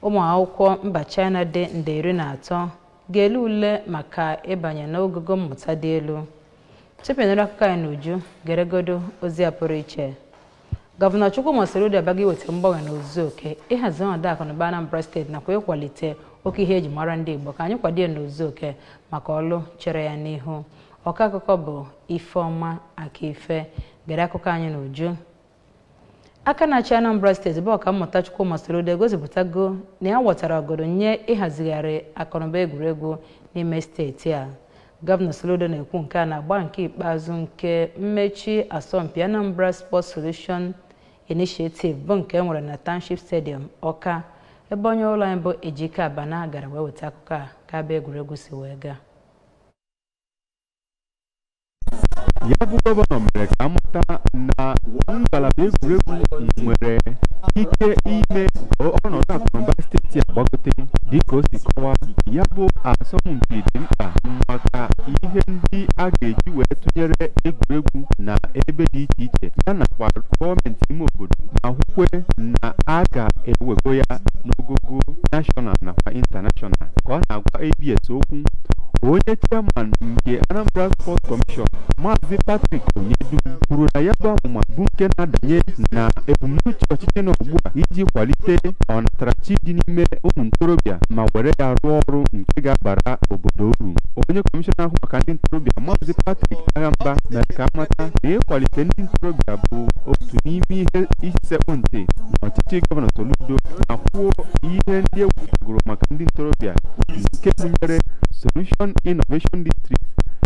ụmụ akwụkwọ mba China dị nde iri na atọ ga-ele ule maka ịbanye n'ogogo mmụta dị elu tupu ị nụrụ akụkọ anyị n'uju geregodo ozi a pụrụ iche gọvanọ Chukwuma Soludo abịago iweta mgbanwe n'ozuzu oke ịhazi ọnọdụ akụnụba Anambra steeti nakwa ịkwalite oke ihe eji mara ndị Igbo ka anyị kwado ya n'ozuzu oke maka ọlụ chere ya n'ihu ọkọ akụkọ bụ Ifeọma Akaife gere akụkọ anyị n'uju aka na-achị anambra steeti bụ ọkammụta chukwuma soludo egosipụtago na ya wetara ọgọdọ nye ịhazigharị akụnụba egwuregwu n'ime steeti a gọvanọ soludo na-ekwu nke a n'agba nke ikpeazụ nke mmechi asọmpi anambra sports solution initiative bụ nke e nwere na township stadium ọka ebe onye ụlọ anyị bụ ejike abana gara wee weta akụkọ a ka ya bụ egwuregwu si wee gaa ya bụ gọvanọ mere ka amata na ngalaba egwuregwu nwere ike ime ọnọdụ akụnụba steeti a gbagote dịka o si kọwaa ya bụ asọmpi dị mkpa maka ihe ndị a ga-eji wee tụnyere egwuregwu na ebe dị iche iche ya nakwa gọọmenti ime obodo ma kwukwe na a ga-ewego ya n'ogogo nashọnal nakwa intanashọnal ka ọ na-agwa abs okwu onye chairman nke Anambra Sports Commission Maazị Patrick Onyedum kwuru na ya bụ amụma bụ nke na-adanye na ebumnuche ọchịchị nọ ugbu a iji kwalite ọnatarachi dị n'ime ụmụ ntorobịa ma were ya rụọ ọrụ nke ga-abara obodo uru onye kọmishọna na-ahụ maka ndị ntorobịa Maazị Patrick Aghamba mere ka amata na ịkwalite ndị ntorobịa bụ otu n'ime ihe isi sekpụ ntị n'ọchịchị gọvanọ Soludo ma kwuo ihe ndị e wepụtagoro maka ndị ntorobịa nke gụnyere Solution Innovation District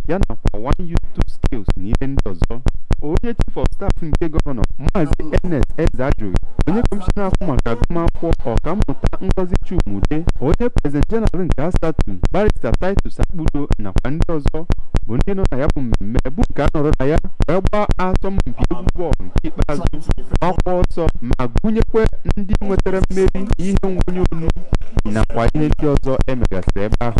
ya nakwa One Youth Two Skills na ihe ndị ọzọ onye chief of staff nke gọvanọ maazị ernest ezeajụghị onye kọmishọna na-ahụ maka agụmakwụkwọ ọkammụta ngozi chuma udeh onye prezident jeneral nke asatu barista titus akpudo nakwa ndị ọzọ bụ ndị nọ na ya bụ mmemme bụ nke a nọrọ na ya wee gbaa asọmpi egwu bọọlụ nke ikpeazụ ọkwa ọsọ ma gụnyekwa ndị nwetara mmeri ihe nwonye onu nakwa ihe ndị ọzọ e megasịrị ebe ahụ